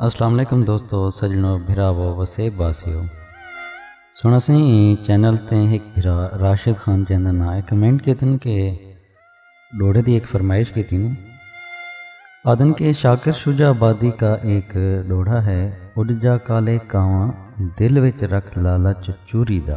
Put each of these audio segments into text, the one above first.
السلام علیکم دوستو سجنو بھراو وسیب باسیو سنا سی چینل تے ایک بھرا راشد خان جیندہ نا ہے کمنٹ کے تن کہ ڈوڑے دی ایک فرمائش کی تین آدن کے شاکر شجا آبادی کا ایک ڈوڑا ہے اڈ جا کالے کاواں دل وچ رکھ لالچ چوری دا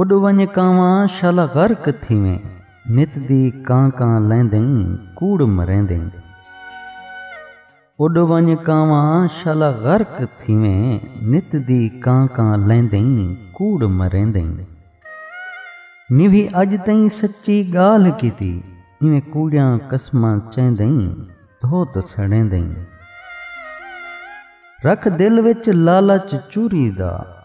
اݙ ونڄ کانواں شالا غرق تھیویں نت دی کاں کاں لیندیں کوڑ مریندیں اݙ ونڄ کانواں شالا غرق تھیویں نت دی کاں کاں لیندیں کوڑ مریندیں نیوی اڄ تئیں سچی ڳالھ کیتی ایویں کوڑیاں قسماں چیندیں دھوت سڑیندیں رکھ دل وچ لالچ چوری دا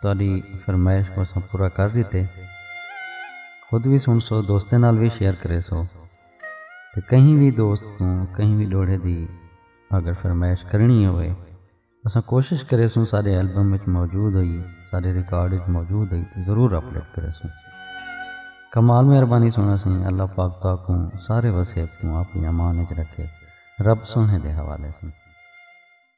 تہاݙی فرمائش کوں اساں پورا کر ݙتے۔ خود وی سݨسو، دوستاں نال وی شیئر کریسو تے کہیں وی دوست کوں کہیں وی ݙوہڑے دی اگر فرمائش کرݨی ہووے اساں کوشش کریسوں ساݙے البم وچ موجود ہوئی ساݙے ریکارڈ وچ موجود ہوئی تے ضرور اپلوڈ کریسوں۔ کمال مہربانی سوہݨا سئیں اللہ پاک تہاکوں سارے وسیب کوں آپݨی امان وچ رکھے رب سوہݨے دے حوالے سئیں۔